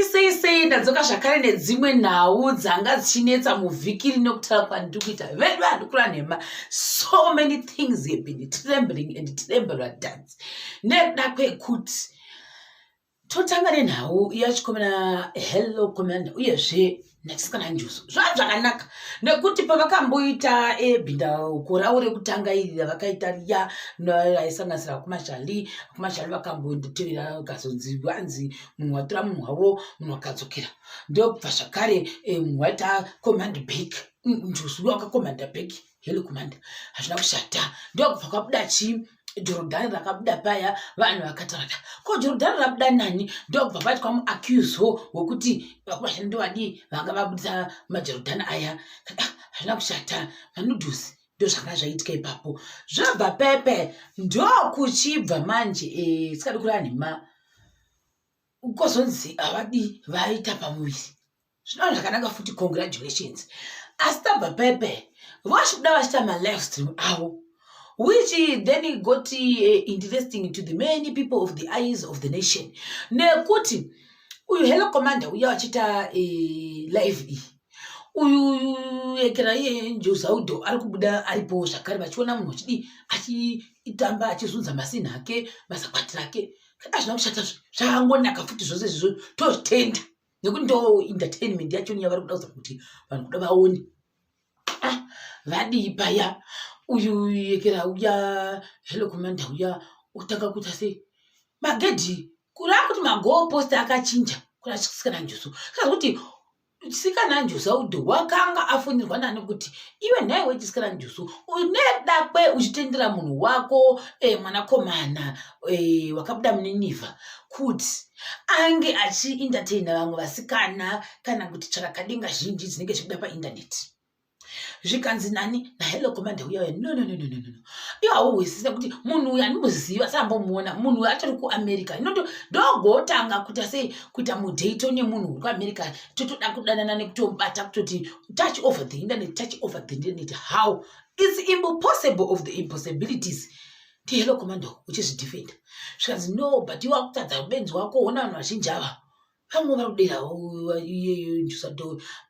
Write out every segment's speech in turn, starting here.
sei sei ndadzoka zvakare nedzimwe nhau dzanga dzichinetsa muvhiki rino kutaura kwandiri kuita vedu handikura nhema so many things have been trembling and trembler dance nekuda kwekuti totanga nenhau yachikomena hello komena uyezve nachisikana njuso zvava zvakanaka nekuti pavakamboita ebinda koravo rekutanga iri ravakaita riya raisanganisira kumashali kumashali vakambonditevera vakazonzi vanzi munhu watora munhu wavo munhu wakadzokera ndokubva zvakare eh, munhu waita command back njuso wakakomanda back Hello kumanda hazvina kushata ndokubva kwabuda chi jorodhani rakabuda paya vanhu vakatarata ko jorodhani rabuda nani ndokubva pati kwamuacuso wekuti vakurashani ndovadii vanga vabudisa majorodhani aya ah, hazvina kushata manudhusi ndozvanga zvaitika ipapo zvabva pepe ndokuchibva manje eh, sikadi kurani ma kozonzi havadi vaita pamuviri Zvino zvakanaka futi congratulations. Asi tabva pepe vachikuda vachita malive stream avo which then got uh, interesting to the many people of the eyes of the nation nekuti uyu hello commander uya vachita uh, live iyi uyu ekera iye njozaudo ari kubuda aripo zvakare vachiona munhu achidii achitamba achizunza masinha ake mazakwati rake kana zvina kushata zvangonaka futi zvose izvizvo tozvitenda nekuti ndo entertainment yachoni yavari kuda kuza kuti vanhu kuda vaone ah, vadii paya uyu yekera uya hello commander uya utanga kuita sei magedhi kuri akuti magoo post akachinja kuri achisikana njusu kaa kuti chisikana njusu audhi wakanga afonirwa nani kuti iwe nhai wechisikana njusu unedakwe uchitendera munhu wako e, mwanakomana e, wakabuda muninivha kuti ange achiindateina vamwe vasikana kana kuti tsvarakadenga zhinji dzinenge zvichibuda paindaneti zvikanzi nani nahello commander uya uya no no no no no no iwo hauhwisise kuti munhu uyu andimuziva sambomuona munhu uyu atori kuamerica inoto ndogotanga kuita sei kuita mudato nemunhu uri kuamerica totoda kudanana nekutobata kutoti touch over the internet touch over the internet how its impossible of the impossibilities ti hello commando uchizvidefenda zvikanzi no but iwe akutadza benzi wako ona vanhu vazhinji ava vamwe vari kudera iyeyo ndusado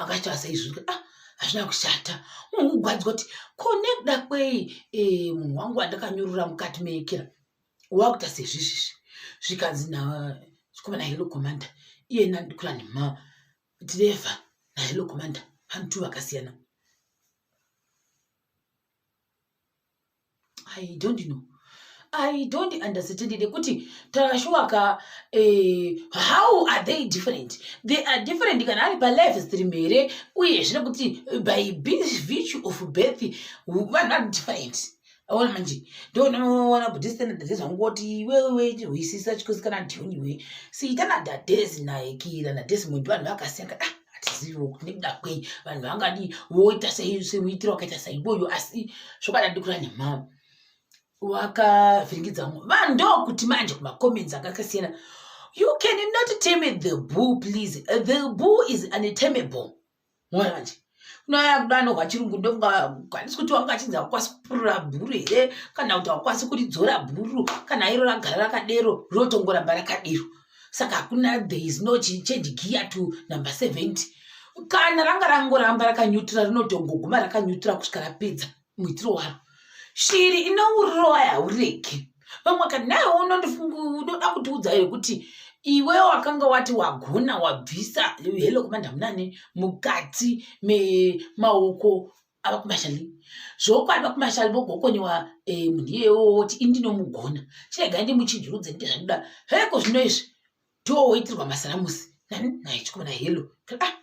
akati asaizvika ah hazvina kushata munhu kugwadzwa kuti ko nekuda kwei eh, munhu wangu andakanyurura mukati meekera wakuta sezvizvizvi zvikanzi na chikomana hello commander iye nandikula nema driver na hello commander vanhu two vakasiyana i don't know i don't understand nekuti tashuwa ka eh, how are they different they are different kana ari palife stream here uye zvine kuti eh, by virtue of birth vanhu vari different aona manje ndonoona kuti standardade zvangoti iwewe hwisisa chikosikana ndioniwe siita nadadesi naekira nadesi muntu vanhu vakasiyana ah hatizivi kuti nekuda kwei vanhu vangadi voita semuitiro wakaita saiboyo asi zvokadadi kura nemhama wakavhiringidza mumwe vanhu ndokuti manje kumacomments akakasiyana you can not tame the bull please the bull is unatamable mona manje kunoya kuda anohwa chirungu ndokwanisi kuti wanga achinzi hakwasi kupurura bhuru here kana kuti hakwasi kuridzora bhuru kana iro ragara rakadero rotongoramba rakadero saka hakuna there is no change gear to number 70 kana ranga rangoramba rakanyutura rinotongoguma rakanyutura kusvika rapedza muitiro waro shiri inourowa yaureki vamwe ka naye unoda kutiudza here kuti iwe wakanga wati wagona wabvisa helo kumandamnani mukati memaoko ava kumashali zvokwadi vakumashali vogokonyewa eh, munhu iyewo woti indinomugona chirega ndimuchinjurudze nde zvandida heko zvino izvi toowoitirwa masaramusi nani naye chikomana helo ah,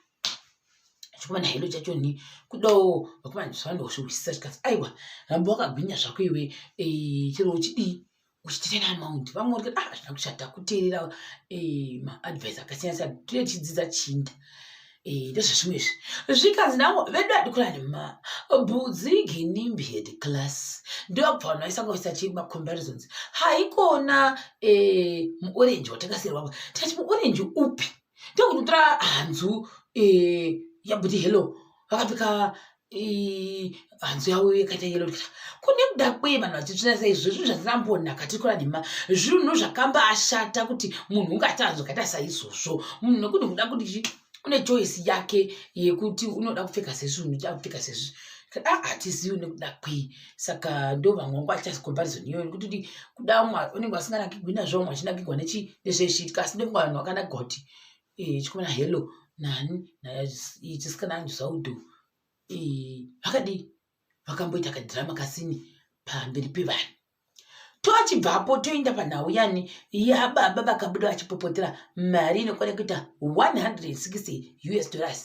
chikomana helo chacho ni kudawo vakomana zvavanozvihwisisa chikati aiwa ramba wakagwinya zvako iwe eh, chero uchidii uchiterera amount vamwe uri kuti ah hazvina kushata kuterera eh, maadvice akasiyana siyana tine tichidzidza chinda eh, ndezvezvimwe izvi zvikanzi navo vedu adikurani ma budzi ginimbi head class ndobva vanhu vaisangoisa chii macomparisons haikona eh, muorenji watakasirwavo tikati muorenji upi ndokunotora hanzu yabudi hello vakapika hanzu yavo yakaita yelo kune kuda kwei vanhu vachitsvina sei zvo zvinhu zvatinambonaka tikura nema zvinhu zvakamba ashata kuti munhu ungati hanzu kaita saizvozvo munhu nekuti kuda kuti une choice yake yekuti unoda kupfeka sezvi unoda kupfeka sezvi a hatizivi une kuda kwei saka ndo vamwe vangu achasi comparison iyoyo nekuti kuti kuda unenge vasinganakigwi nazvo vamwe vachinakigwa nezvezviitika asi nekuti vanhu vakanakigwa kuti eh, chikomana hello nani chisikana anju zvaudhu eh, vakadii vakamboita kadhirama kasini pamberi pevanhu tochibvapo toenda panhau yani yababa vakabuda vachipopotera mari inokwana kuita 160 us dollars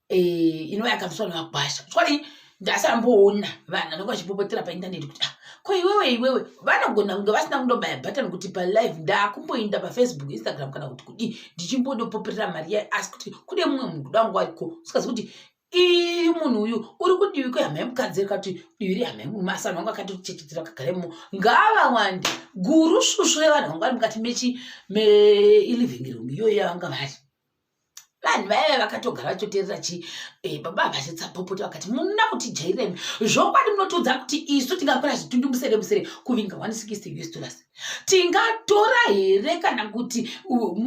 eh, inova yakabviswa nemakwasha chokwadi ndasamboona vanhu vanenge vachipopotera paindaneti kuti ah, ko iwewe iwewe vanogona kunge vasina kundobaya button kuti palive ndakumboinda pafacebook instagram kana kuti kudii ndichimbodopoperera mari yayo asi kuti kune mumwe munhu kuda wangu ariko usikazi kuti ii munhu uyu uri kudivi kwehama yemukadzi rekati divi rehama yemurume asi vanhu vanga vakati kuchechetera kagaremo ngavawande guru svusvu revanhu vanga vari mukati mechi meiliving room iyoyo yavanga vari vanhu vaive vakatogara vachitoteerera chi eh, baba vachitsapopota vakati munoda kuti jairemi zvokwadi munotiudza kuti isu tingakora zvitundu musere musere kuvinga 160 us dollars tingatora here kana kuti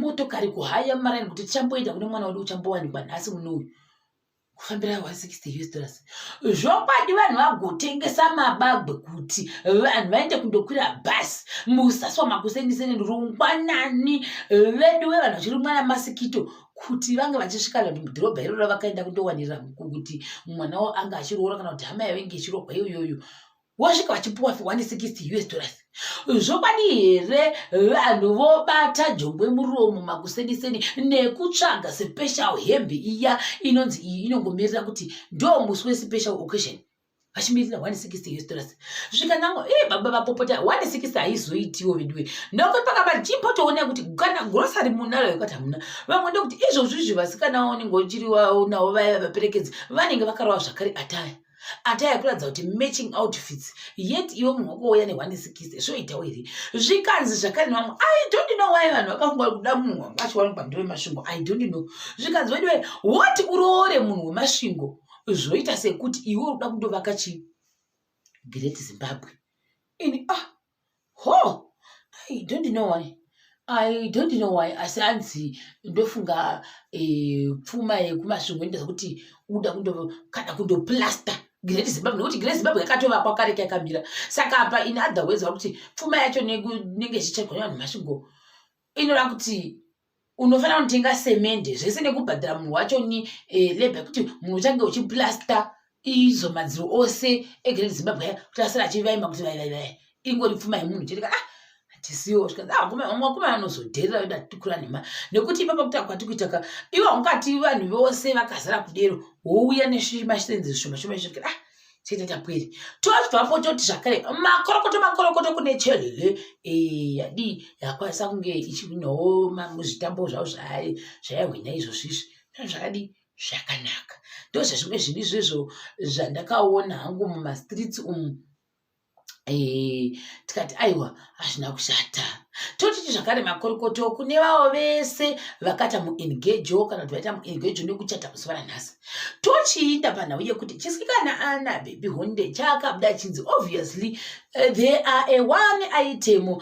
motokari kuhaya maraini kuti tichamboenda kune mwana wedu uchambowanikwa nhasi muno uyu kufambira 160 us dollars zvokwadi vanhu vagotengesa mabagwe kuti vanhu vaende kundokwira bhasi musaswa makuseniseni rungwanani vedu ve vanhu vachirumwa namasikito kuti vange vachisvika vanhu mudhorobha iroro vakaenda kundowanira kuti mwana wavo ange achiroora kana kuti hama yavange ichirohwa iyoyoyo vosvika vachipuwa 160 us dollars zvokwadi here vanhu vobata jongwe muromo makuseniseni nekutsvaga special hembe iya inonzi iyi inongomirira kuti ndo musi wespecial occasion vachimirira 160 us dollars zvikanango e baba vapopota 160 haizoitiwo veduwe nokuti pakaba jimbotoona kuti kana grosary munalo yekati hamuna vamwe ndokuti izvozvizvi vasikana vaonenge uchiri navo vaya vaperekedzi vanenge vakarova zvakare ataya ataya kuratidza kuti matching outfits yet iwe munhu wakouya nehwanesikisi zvoitawo here zvikanzi zvakare nevamwe i don't know why vanhu vakafunga kuda munhu wanga achiwanikwa ndiwe masvingo i don't know zvikanzi vediwe woti uroore munhu wemasvingo zvoita sekuti iwe uri kuda kundovaka chi great zimbabwe ini ah ho i don't know why i don't know why asi anzi ndofunga eh, pfuma yekumasvingo inoita kuti uda kundo kana kundoplaster great zimbabwe nekuti great zimbabwe yakatovakwa kare kayakamira saka apa in other ways vakuti pfuma yacho nenge ichichekwa nevanhu masvingo inoda kuti unofanira kutenga semende zvese nekubhadhara munhu wacho ni e, eh, leba yekuti munhu uchange uchiplasta izo madziro ose egrand zimbabwe aya kuti asiri achivaima kuti vaivaivai ingori pfuma yemunhu chete ka ah tisiwo zvikanzi ah kuma vamwe kuma vanozodherera veda tikura nema nekuti ipapa kuti akwati kuita ka ivo ungati vanhu vose vakazara kudero wouya neshima shitenzi zvishoma shoma zvishoma ah chete tapwere tozvapo toti zvakare makorokoto makorokoto kune chelele eh, yadii yakwanisa kunge ichihwinawo muzvitambo zvavo zvaari zvaihwina izvozvizvi zvino zvakadii zvakanaka ndozvezvimwe zvinhu izvezvo zvandakaona hangu mumastreets umu Eh, tikati aiwa hazvina kushata totiti zvakare makorokoto kune vavo vese vakata muengejo kana kuti vaita muengejo nekuchata musi varanhasi tochiita panhau yekuti chisikana ana bhebhi honde chaakabuda chinzi obviously eh, there are a one aitemo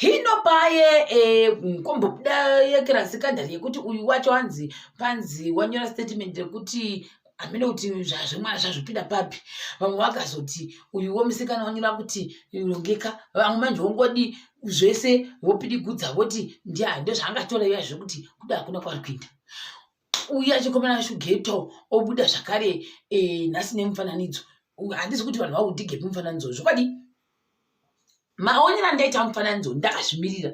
hino paye eh, kombobuda yekirasi kadhari yekuti uyu wacho anzi panzi wanyora statement rekuti hamene kuti zvazvemwana zvazvipinda papi vamwe vakazoti uyuwo musikana wanyura kuti rongeka vamwe manje wongodi zvese vopidigudza voti ndiani ndozvaangatora iya zvekuti kuda hakuna kwari kuinda uye achikomana shugeto obuda zvakare eh, nhasi nemufananidzo handisi kuti vanhu vakudigepi mufananidzo zvokwadi maonero andaita mufananidzo ndakazvimirira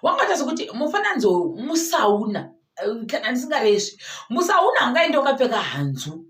wakaita sekuti mufananidzo musauna eh, kana ndisingaresvi musauna angaenda wakapfeka hanzu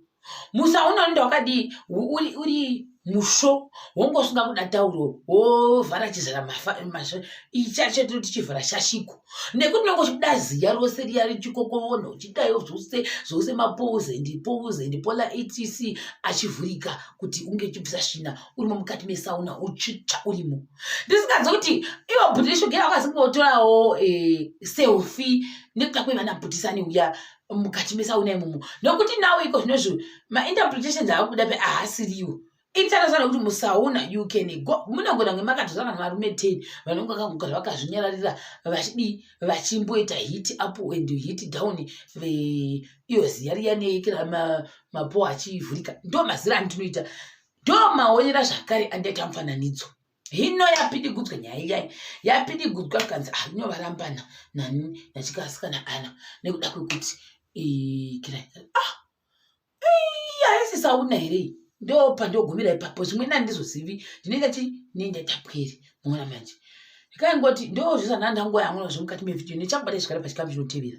musauna unoenda wakadii uri, uri musvo wonge usinga kuda tauro wovhara chizara masvo ichacho tiri tichivhara shashiko nekuti unenge uchibuda ziya rose riya richikokovona uchidayo zvose zvose mapose and pose and pola etc achivhurika kuti unge uchibvisa svina urimo mukati mesauna uchitsva urimo ndisinganzi kuti ivo bhuti reshogera vakazi kuotorawo eh, selfi nekuda kwevana bhutisani uya mukati mesauna imomo nokuti nawo iko zvinozvo mainterpretations ava kuda pe ahasiriwo itarisana kuti musauna you can go munogona kunge makatozana nevarume ten vanonge vakagara vakazvinyararira vachidii vachimboita hit up and hit down iyo ziya riya neekira mapo achivhurika ndo mazira andinoita ndomaonera zvakare andaita mufananidzo hino yapidigudzwa nyaya iyai yapidigudzwa kanzi ah, ino varambana nani nachikasikana ana nekuda kwekuti ah, aisisauna here ndopa ndogumira ipapo zvimwe nandizozivi ndinenge ti nendatapweri muona manje ndikaingoti ndozvizanandangoyamuna zvemukati mevhidhiyo nechabata izvigare pachikamu chinotevera